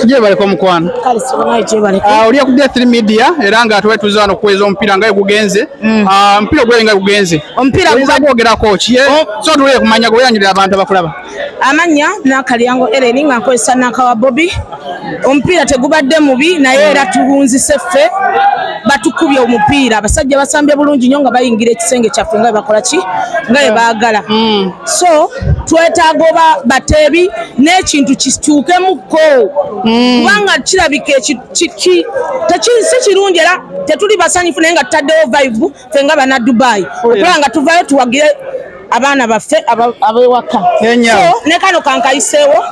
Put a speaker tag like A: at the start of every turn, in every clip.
A: Kyebaleko mukwano
B: ah, olya ku D3 Media
A: era nga tuba tuza wano kuweza omupiira nga gugenze mm. ah, omupiira ogulabe nga gugenze omupiira gwogerako ki eh, oh. so tuwulire kumanya gweyanyulira abantu abakulaba amanya
B: nakalyango Ellen nga nkozesa nakawa Bobi omupiira tegubadde mubi naye era tuwunzise ffe batukubye omupiira abasajja basambye bulungi nyo nga bayingira ekisenge kyaffe nga bebakola ki nga bebaagala mm. mm. so twetaaga oba bateebi n'ekintu kituukemuko mm. kubanga kirabika si kirungi era tetuli basanyufu naye nga tutaddewo vibe fe nga bana dubai oh, okulaba nga tuvayo tuwagire abaana baffe abewaka ne kano kankayiseewo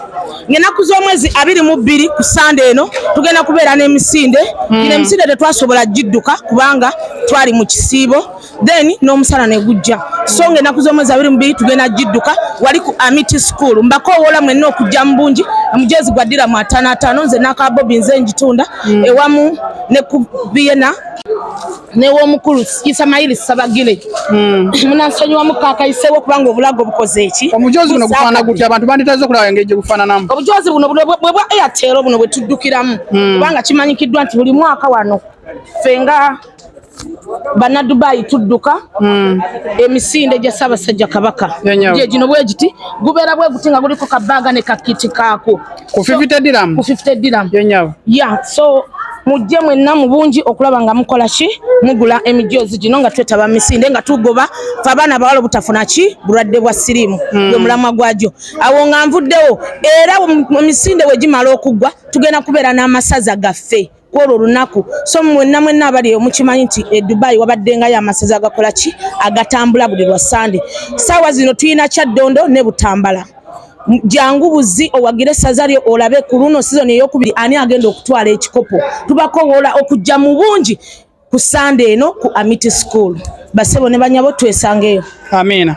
B: ngenaku z'omwezi abiri mu bbiri ku sande eno tugenda kubeera n'emisinde mm. ino emisinde tetwasobola gidduka kubanga twali mu kisiibo then n'omusala ne gujja so nga ennaku z'omwezi abiri mubiri tugenda gidduka wali ku amity school mbakowoola mwenna okujja mu bungi omujezi gwa ddira mu ataano ataano nze n'aka bobi nze ngitunda mm. ewamu ne ku biyena newomukulu isamayiri sabagile hmm. munansonyiwamu kakayisewo kubanga obulago bukoze eki omujozi buno gufaana gutya
A: abantu banditaze okulaba engeri gye gufaananamu obujozi buno bwe
B: bwa airtel buno bwe tuddukiramu hmm. kubanga kimanyikiddwa nti buli mwaka wano fenga banadubayi tudduka hmm. emisinde gya ssaabasajja kabaka gyegino bwegiti gubeera bweguti nga guliko kabaaga ne kakiti kaako ku 50 diram
A: ku 50 diram
B: ya
A: so
B: mujje mwenna mu bungi okulaba nga mukola ki mugula emijoozi gino nga twetaba misinde nga tugoba fe abaana bawala obutafuna ki bulwadde bwa siriimu hmm. gwe mulamwa gwagyo awo nga nvuddewo era emisinde wegimala okuggwa tugenda kubeera n'amasaza gaffe kwolwo olunaku so mwenna mwenna abali eyo mukimanyi nti e dubai wabaddengayo amasaza agakola ki agatambula buli lwa sande saawa zino tulina kyaddondo ne butambala jangu buzi owagire saza lyo olabe ku luno sizoni eyokubiri ani agenda okutwala ekikopo tubakowola okujja mu bungi ku sande eno ku amity school basebo
A: ne
B: banyabo twesangeyo amiina